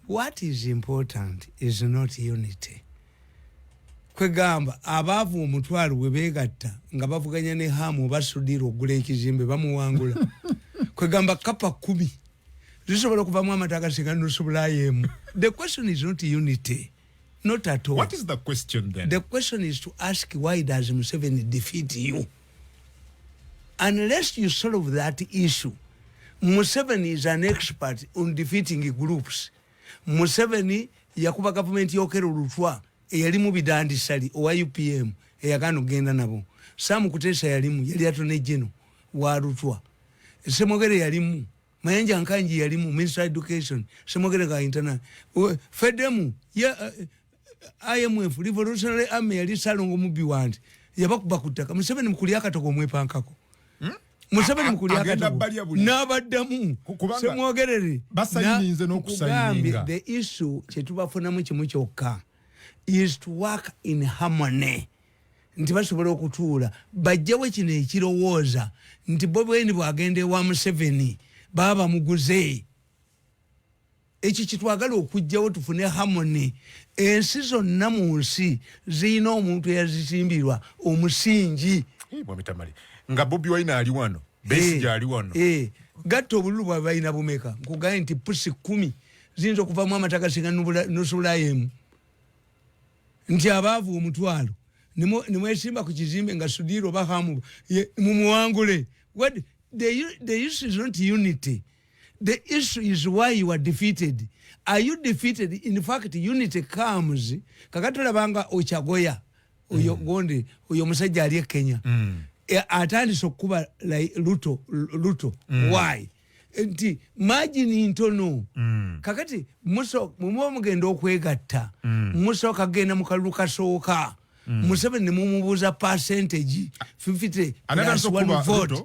what is important is not unity kwegamba abaavu omutwalo bwe beegatta nga bavuganya ne haamu oba sudiira okugula ekizimbe bamuwangula kwegamba kapa kumi zisobola okuvamu amata agasinga nusubulayo emu the question is not unity Not at all. What is the question then? The question is to ask why does Museveni defeat you? Unless you solve that issue, Museveni is an expert on defeating groups. Museveni yakuba government yokero lutwa eyalimu bidandi sali owa UPM eyagano genda nabo. Samu kutesa yalimu yali atone jeno wa lutwa. Semogere yalimu. mayanja nkanji yali mu minister education semogere ka interna fedemu ye eh, imf revolutionary army yali salongo mubi wandi yabakuba ku ttaka museveni mukulya akatogo omwepankako hmm? museveni mukulya akatogo n'abaddamu semwogerere kugambye the issue kyetubafunamu kimu kyokka is to work in harmony nti basobola okutuula bajjawo kino ekirowooza nti bobweni bwagenda ewa museveni baba bamuguze ekyo kitwagala okugjawo tufune harmony ensi zonna mu nsi zirina omuntu eyazisimbirwa omusingi nga bobi wine ali wano besigi eh, ali wano eh, gatta obululu bwabe balina bumeka nkugaye nti pusi kumi ziyinza okuvamu amataka singa nusulayo emu nti abaavu omutwalo nemwesimba ku kizimbe nga sudiira oba hamu mumuwangule what the, the issue is not unity the issue is why you are defeated are you defeated in fact unity comes kakati olabanga okyagoya oyo mm. gonde oyo omusajja ali e kenya mm. e, atandise okukuba luto luto mm. why nti majini ntono mm. kakati mwemuba mugenda okwegatta mm. musooka kugenda mu kalulu kasooka mm. museveni nemumubuuza percentage 50 plus one vote